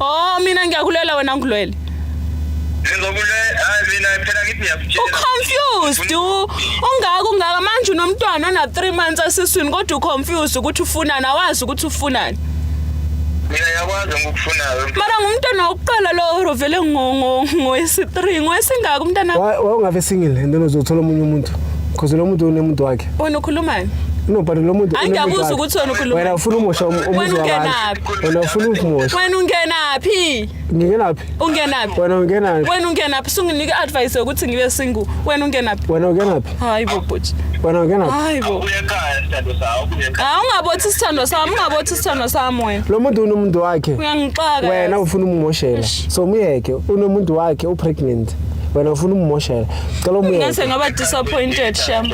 Oh mina ngiyakulela wena ngilwele. Ngizokule hayi mina phela ngithi ngiyakutshela. Uconfused u- ungaka ungaka manje unomntwana ona 3 months asiswini kodwa uconfused ukuthi ufunani awazi ukuthi ufunani. Mina yakwazi ngikufunayo. Mara ngumntwana wokuqala lo rovele ngo ngo ngoyesi 3 ngoyesingaka umntana Wa- wawungabe single and then uzothola omunye umuntu because lo muntu unemuntu wakhe wena ukhulumani? no but lo muntu Hayi unemuntu ngiyabuza wakhe. ukuthi wena ukhulumani. wena ufuna umosha um- umuzi Wena wabantu ungenaphi? Wena ufuna ukungimosha. Wena ungenaphi? Ngingenaphi? Ungenaphi? Wena ungenaphi? Wena ungenaphi? Sunginike advice yokuthi ngibe single. Wena ungenaphi? Wena ungenaphi? Hayi bo bhuti. Wena ungenaphi? Hayi bo. Uyekhaya sithando sawo. Hayi ungabothi sithando sami, ungabothi sithando sami wena. Lo muntu unomuntu wakhe. Uyangixaka. Wena ufuna ummoshela. So muyeke, unomuntu wakhe u pregnant. Wena ufuna ummoshela. Cela umuyeke. Ngase ngaba disappointed sham.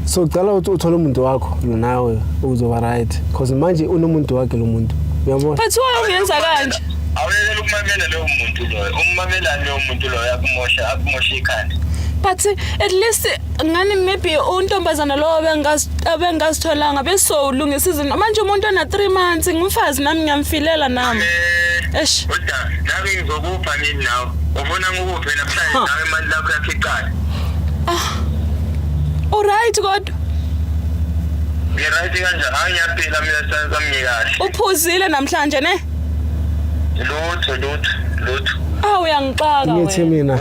So cela uthole umuntu wakho nawe uzoba right. Mfethu. Cause manje unomuntu wakhe lo muntu. Uyabona? Mfethu wayo ungenza kanje. Awuyekela ukumamela leyo muntu loyo. Ummamelani leyo muntu loyo akumosha akumosha ikhanda. But at least ngani maybe untombazana lowo bengazi abengazitholanga beso ulungisa izinto. Manje umuntu ona 3 months ngumfazi nami ngiyamfilela nami. Eh, Eish. Uda, nami ngizokupha nini nawe? Ufuna ngikuphe namhlanje Ha. nawe imali lakho yakhiqala. Alright kodwa Ngirayithi kanje hayi ngiyaphila mina senza mngikahle. Uphuzile namhlanje ne? Lutho lutho lutho. Ah uyangixaka wena. Ngithi mina.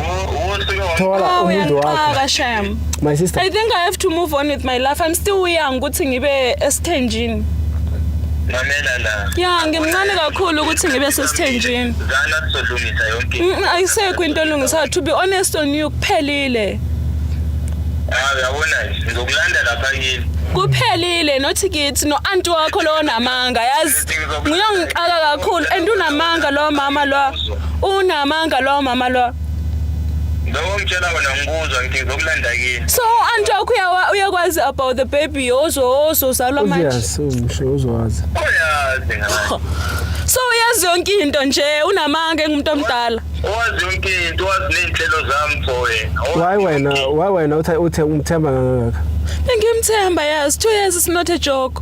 Thola ah, umuntu wakho. Uyangixaka sham. My sister. I think I have to move on with my life. I'm still young ukuthi ngibe esithenjini. Mamela la. Ya ngimncane kakhulu ukuthi ngibe sesithenjini. Zana sizolungisa yonke. Ayisekho into elungisayo to be honest on you kuphelile. Ah, uyabona nje ngizokulanda lapha kini. kuphelile nothi kithi no-anti wakho lowo namanga yazi nguyongixaka kakhulu and unamanga lowo mama lowa unamanga lowo mama lowa Lokho ngitshela wena ngikuzwa ngithi ngizokulanda kini. so u-anti wakho uyawa- uyakwazi about the baby ozo ozozalwa manje uyazi umsho uzowazi Uyazi ngani. so uyazi yonke into nje unamanga engumuntu omdala Wazi yonke into, wazi nezinhlelo zami mfowethu. Why wena, why wena uthe uthe umthemba kangaka? Ngimthemba yazi, two years is not a joke.